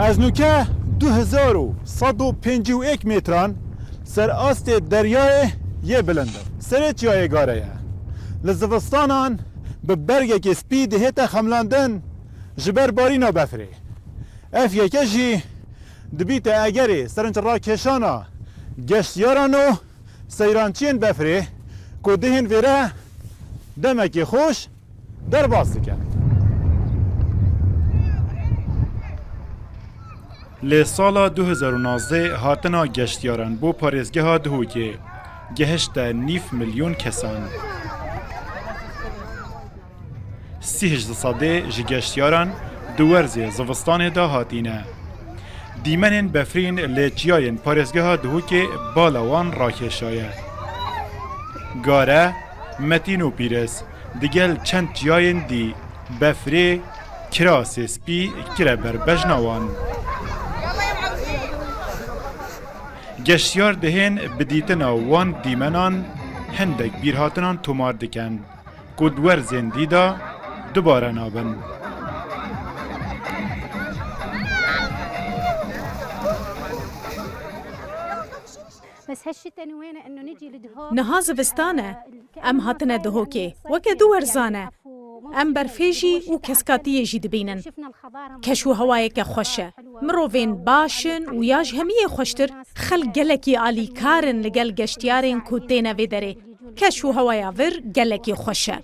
Ez nûke du hezar û sed û pêncî û êk mêtran ser astê deryayê yê bilind im. Serê çiyayê gare ye. Li zivistanan bi bergekê spî dihête xemlandin ji ber barîna befrê. Ev yeke jî dibîte egerê serinçrakeşana geştyaran û seyrançiyên befrê ku dihên vêre demekê xweş, derbas dike. Li sala du hezar û nozdeh hatina geştyaran bo parêzgeha Duhokê gehişte nîv milyon kesan. Sih di sedê ji geştyaran di werzê zivistanê de hatîne. Dîmenên befrîn lê çiyayên parêzgeha Duhokê bala wan rakêşaye. Gare, Metîn û Pîrez digel çend çiyayên dî, Befrê, Kirasê Spî kire ber bejna wan. Geştyar dihên bi dîtina wan dîmenan hindek bîrhatinan tomar dikin ku di werzên dî de dubare nabin. Niha zivistan e. Em hatine Dihokê. Weke du werzan e. Em berfê jî û keskatiyê jî dibînin. Keş û hewayeke xweş e. Mirovên baş in û ya ji hemiyê xweştir xelk gelekî alîkar in li gel geştyarên ku têne vê derê. Keş û hewaya vir gelekî xweş e.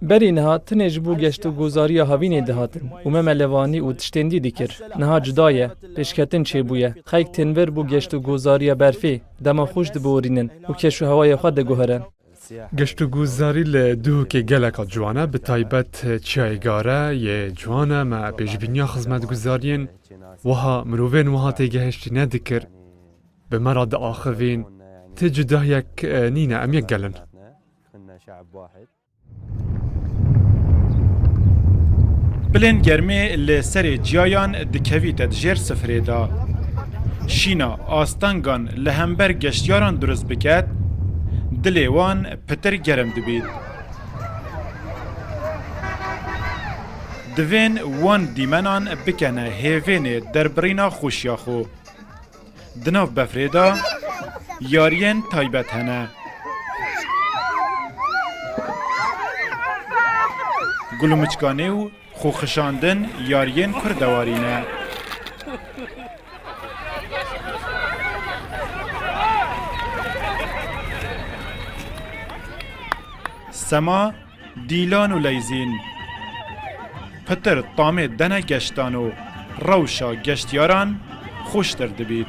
Berî niha tenê ji bo geşt û gozariya havînê dihatin û me melevanî û tiştên dî dikir. Niha cuda ye. Pêşketin çêbûye. Xelk tên vir bo geşt û gozariya berfê, dema xweş diborînin û kêş û hewayê xwe diguhrin. Geşt û gozarî li Duhokê geleka ciwan e, bi taybet Çiyayê Gare yê ciwan e. Me pêşbîniya xizmetguzariyên wiha, mirovên wiha têgehiştî nedikir. Bi me re diaxivîn, Ti cudahiyek nîne, em yek gel in. Xinna şe'b wahid. Bilên germê li serê ciyayan dikevîte di jêr sifirê de. Şîna astengan li hember geştyaran durist biket, dilê wan pitir germ dibît. Divên wan dîmenan bikene hêvênê derbirîna xweşiya xwe. Di nav befrê de yariyên taybet hene. Gul û miçkanê û xwexişandin yariyên kurdewarî ne. Sema Dîlan û leyzîn. Pitir tamê dene geştan û rewşa geştyaran xweştir dibît.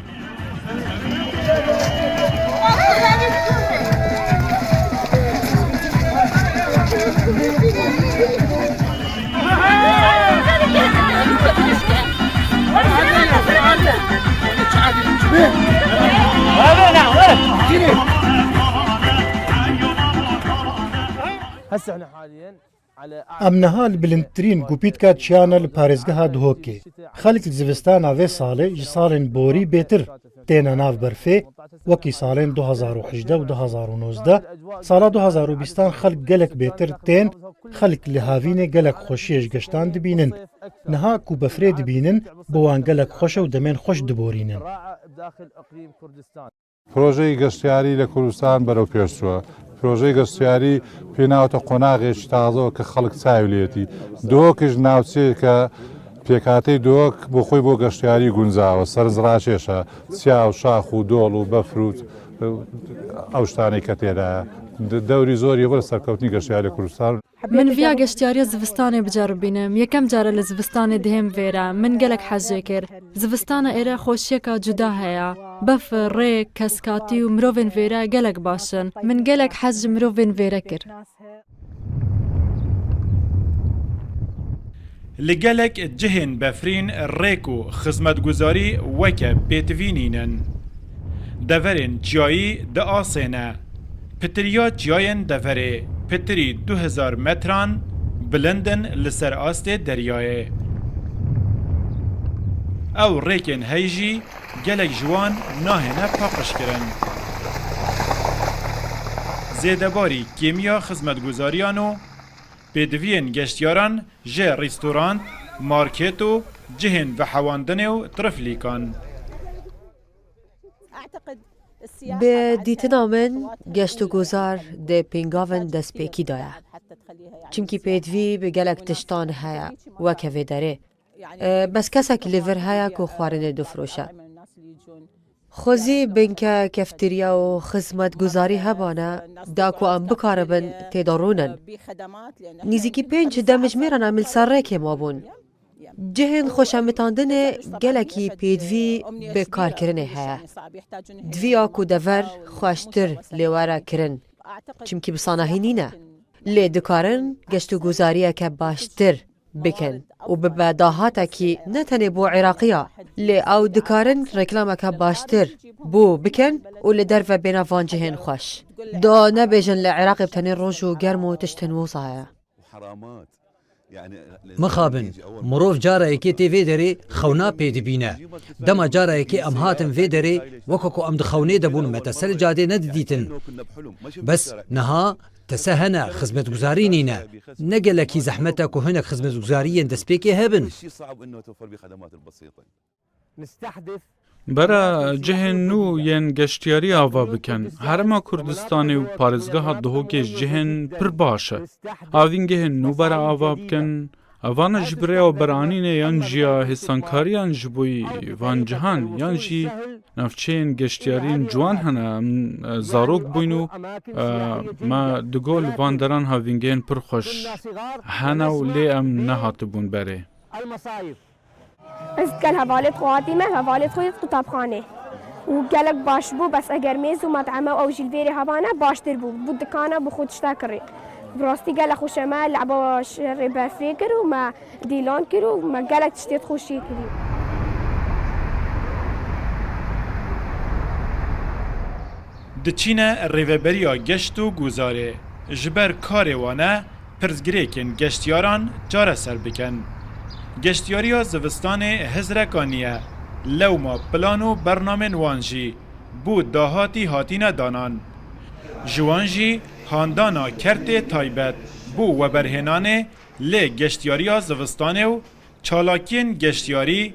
Em niha li bilindtirîn gupîtka çiyan e li parêzgeha Dihokê. Xelk li zivistana vê salê ji salên borî bêtir têne nav berfê, wekî salên du hezar û hejdeh û du hezar û nozdeh. Sala du hezar û bîstan xelk gelek bêtir tên, xelk li havînê gelek xweşiyê ji geştan dibînin. Niha ku befrê dibînin, bo wan gelek xweş e û demên xweş diborînin. Projeyê geştyarî li Kurdistan bero pêş çû. Projeyê geştyarî pê newte qonaxê ji tazo ke xelk çav lê yetî. Duhokê ji navçeyê ke pêkhateyê Duhok bo xwe bo geştyarî guncav e, serinc raşêş e. Çav, şax û dol û befr û ew tiştanê ke tê de ye, dewrî zor ye bo li serkewtinî geştyarî li Kurdistan. Min viya geştyariya zivistanê biceribînim. Yekem car e li zivistanê dihêm vê re. Min gelek hez jê kir. Zivistana êre xweşiyeka cuda heye. Befir, rêk, keskatî û mirovên vê re gelek baş in. Min gelek hez ji mirovên vê re kir. Li gelek cihên befrîn rêk û xizmetguzarî weke pêtivî nînin. Deverên çiyayî di asê ne. Pitiriya çiyayên deverê pitirî du hezar metran bilind in li ser astê deryayê. Ew rêkên hey jî gelek ji wan nahêne paqijkirin. Zêdebarî kêmiya xizmetguzariyan û Pêdiviyên geştyaran ji restorant, market û cihên vehewandinê û triflîkan. Bi dîtina min geştûguzar dê pêngavên destpêkî da ye. Çimkî pêdivî bi gelek tiştan heye weke vê derê. Bes kesekî li vir heye ku xwarinê difiroşe. Xwezî binke, kefterya û xizmetguzarî hebane da ku em bikaribin tê de rûnin. Nîzîkî pênc demjimêra nemilserrêkê mabûn. Cihên xweşemitandinê gelekî pêdivî bi karkirinê heye. Divî ya ku dever xweştir lê were kirin çimkî bi sanahî nîne. Lê dikarin geştûguzariyeke baştir bikin û bibe dahatekî ne tenê bo Iraqî ya lê ew dikarin reklameke baştir bo bikin û li derve bêne van cihên xweş. Da nebêjin li Iraqê bi tenê roj û germ û tiştên wisa heye. Mixabin, mirov cara yekê tê vê derê xewna pê dibîne. Dema cara yekê em hatin vê derê weke ku em di xewnê de bûn me te ser cadê nedidîtin. Bes niha Tese hene, xizmetguzarî nîne. Ne gelekî zehmet e ku hinek xizmetguzariyên destpêkê hebin. Bera cihên nû yên geştyarî ava bikin. Herêma Kurdistanê û parêzgeha Duhokê ji cihên pir baş e. Avîngehên nû bera ava bikin. Evane ji bi rêya beranînê yan jî ya hêsankariyan ji bo van cihan yan jî navçeyên geştyariyên ciwan hene em zarok bûyn û me digo li van deran havîngehên pir xweş hene û lê em nehatibûn berê. Ez gel hevalê xwe hatî me, hevalê xwe yê qutabxanê û gelek baş bû, bes eger mêz û met'eme ew jî li vêrê hebane baştir bû, bû dikane bû xwe tişta kirî. Bi rastî gelek xweş e, me le'ba şerê berfê kir û me dîlan kir û me gelek tiştê di xweşiyê kirî. Diçîne Rêveberiya Geşt û Guzarê, ji ber karê wan e, pirsgirêkên geştyaran çareser bikin. Geştyariya zivistanê hizreka niye, lewma plan û bernamên wan jî bo dahatî hatîne danan. Ji wan jî handana kertê taybet bo weberhênanê lê geştyariya zivistanê û çalakiyên geştyarî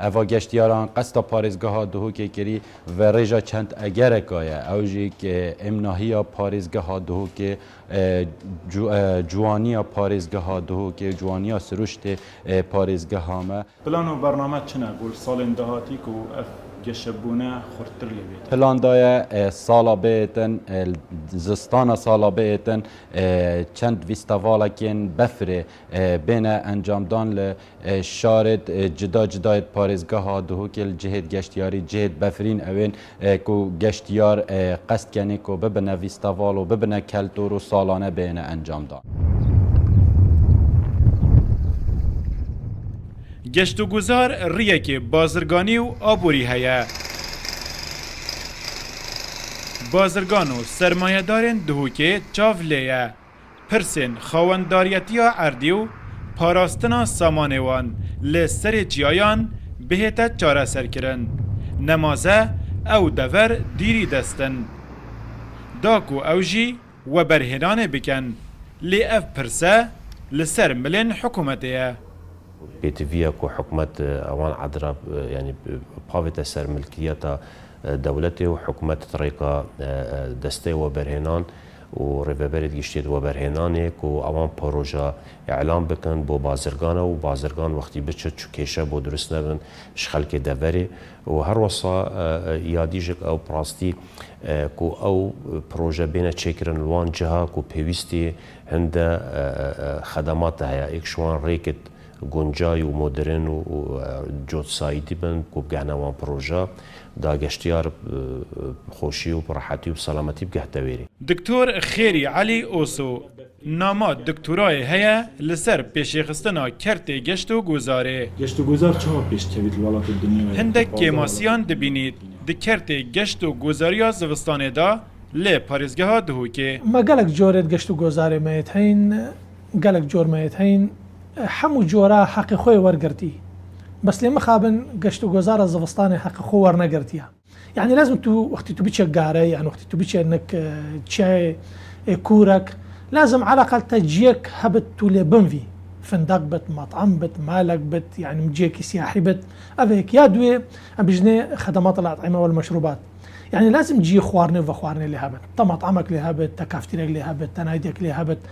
Eva geştyaran qeska parêzgeha Duhokê kirî ve rêja çend egereka ye. Ew jî êmnahiya parêzgeha Duhokê, ciwaniya parêzgeha Duhokê, ciwaniya siruştê parêzgeha me. Plan û bername çi ne bo salên dahatî ku ev geşebûne xurttir lê bêtin? Plan da ye sala bêtin zistana sala bêtin çend vîstevalekên befirê bêne encamdan li. Şarêt cida cidayêt parêzgeha Duhokê li cihêt geştyarî, cihêt befrîn ewên ku geştyar qest kenê ku bibine vîsteval û bibine keltor û salane bêyne encamdan. Geştûguzar riyekê bazirganî û aborî heye. Bazirgan û sermayedarên Duhokê çav lê ye. pirsên xawendariyetiya erdê û parastina samanê wan li serê çiyayan bihête çareserkirin. Nemaze ew dever dîrî dest in. Da ku ew jî weberhênanê bikin. Lê ev pirse li ser milên hikûmetê ye. Pêdiviya ku hikûmet ewan edira yanî pavête ser milkiyeta dewletê û hikûmet di rêka destê weberhênan, û Rêveberê giştî di weberhênanê ku ewan poroja îlan bikin bo bazirgan e û bazirgan wextî biçe çi kêşe bo dirust nebin ji xelkê deverê û her wisa ya dîjik ew bi rastî ku ew proje bêne çêkirin li wan ciha ku pêwîstî hinde xedemate heye êk ji wan rêkit guncay û modern û cotsaydî bin ku bigihne wan proja, da geştyar bi xweşî û bi rehetî û bi selametî bigehte wêrî. Doktor Xêrî Elî Oso nama doktorayê heye li ser pêşêxistina kertê geştogozarê. Geştogozar çawa pêş kevît li welatê dinyayê? Hindek kêmasiyan dibînît di kertê geştogozariya zivistanê de lê parêzgeha Dihokê. Me gelek corê di geştogozarê me yê teyîn. Gelek cor me yê heyîn. Hemû cora heqê xwe yê wergirtî. Bes lê mixabin geşt û gozara zivistanê heqê xwe wernegirtiya. Yanî lazim e tu wextî tu biçe garey yan wextî tu biçe nek çiyayê kûrek lazim eleqal te ciyek hebit tu lê binvî. Findeq bit, met'em bit, malek bit yanî ciyekî siyahî bit. Ev e yek. Ya duye em bijînê xedemat el-et'ime wel-meşrûbat. Yanî lazim ciyê xwarinê û vexwarinê lê hebit. Te met'emek lê hebit, te kaftîrek lê hebit, te naydek lê hebit.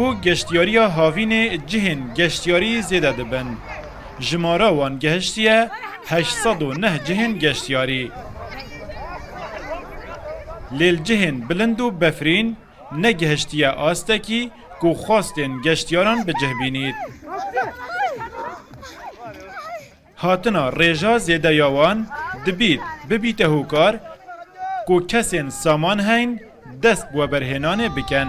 Bo geştyariya havînê cihên geştyarî zêde dibin. Jimara wan gehiştiye heşt sed û neh cihên geştyarî. Lê li cihên bilind û befrîn negehiştiye astekî ku xwestên geştyaran bi cih bînît. Hatina rêja zêde ya wan dibît bibîte hokar ku kesên saman heyn dest bi weberhênanê bikin.